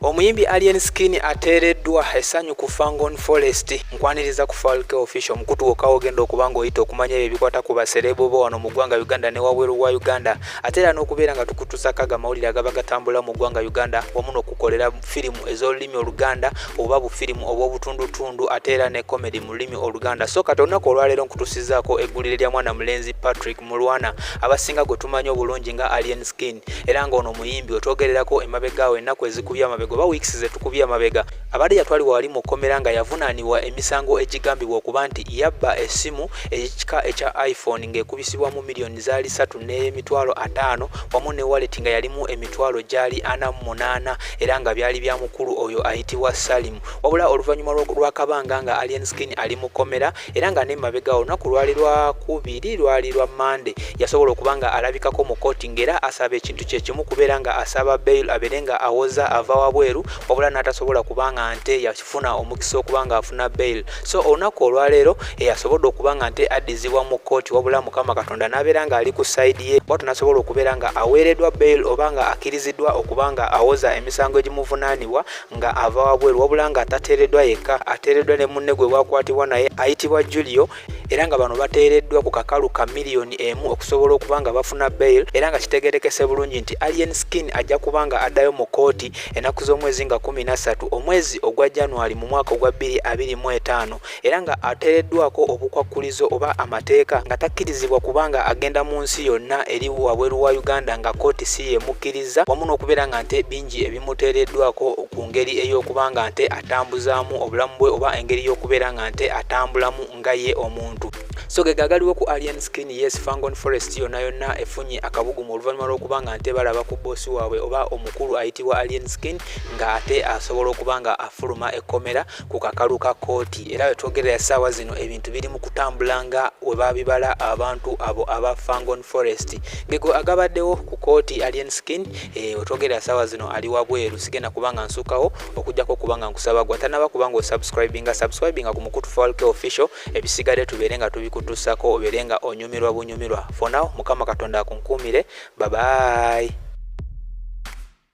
Omuyimbi Alien Skin ateereddwa essanyu ku Fangon Forest. Nkwaniriza ku Falke Official omukutu wokka wogenda okuba ng'oyita okumanya ebyo ebikwata ku basereebo bo wano mu ggwanga Uganda ne wabweru wa Uganda ate era n'okubeera nga tukutuusako ago amawulire agaba gatambula mu ggwanga Uganda wamu n'okukolera firimu ez'olulimi Oluganda oba bufirimu obw'obutundutundu ate era ne komedi mu lulimi Oluganda. So kati olunaku olwaleero nkutuusizzaako eggulire lya mwana mulenzi Patrick Mulwana abasinga gwe tumanyi obulungi nga Alien Skin. era nga ono muyimbi wetwogererako emabega awo ennaku ezikubye amabega oba weeks zetukubye amabega abadde yatwalibwa wali mu kkomera nga yavunaanibwa emisango egigambibwa okuba nti yabba essimu ekika ekya iphone ng'ekubisibwamu miliyoni zaali ssatu n'emitwalo ataano wamu ne waleti nga yalimu emitwalo gyali ana mu munaana era nga byali bya mukulu oyo ayitibwa salimu wabula oluvannyuma lw'akabanga nga alien skin ali mu kkomera era nga nemabega olunaku lwali lwakubiri lwali lwa mande yasobola okuba nga alabikako mu kooti ngaera asaba ekintu kyekimu kubeera nga asaba bail abeere nga awoza ava wabweru wabula natasobola kuba nga nte yafuna omukisa okuba nga afuna bail so olunaku olwaleero eyasobodde okuba nga nte addizibwa mu kooti wabula mukama katonda nabeera nga ali ku saidi ye bwatu nasobola okubeera nga aweeredwa bail oba nga akiriziddwa okuba nga awoza emisango egimuvunanibwa nga ava wabweru wabula nga atateereddwa yekka ateereddwa ne munne gwe bwakwatibwa naye ayitibwa julio era nga bano bateereddwa ku kakalu ka miliyoni emu okusobola okuba nga bafuna bail era nga kitegerekese bulungi nti alien skin ajja kuba nga addayo mu kooti ennaku z'omwezi nga kumi nassatu omwezi ogwa january mu mwaka ogwa bbiri abiri mu etaano era nga ateereddwako obukwakkulizo oba amateeka nga takkirizibwa kubanga agenda mu nsi yonna eri wabweru wa uganda nga kooti si yemukkirizza wamu n'okubeera nga nte bingi ebimuteereddwako ku ngeri ey'okuba nga nte atambuzaamu obulamu bwe oba engeri y'okubeera nga nte atambulamu nga ye omuntu so ge gagaliwo ku alien skin yes fangon forest yonna yonna efunye akabugumu oluvannyuma lw'okuba nga nte balaba ku boosi waabwe oba omukulu ayitibwa alien skin ng'ate asobola okuba nga afuluma ekkomera ku kakalu ka kkooti era wetwogerera essaawa zino ebintu biri mu kutambula nga we babibala abantu abo aba fangon forest gego agabaddewo ku kkooti alien skin eh, wetwogerera essaawa zino ali wabweru sigenda kuba nga nsukawo okujjako okuba nga nkusaba gwa tanaba kuba nga osubscribinga subscribinga ku mukutu falk official ebisigadde tubeere nga tubikutusako obeere nga onyumirwa bunyumirwa fonaw mukama katonda akunkuumire babayi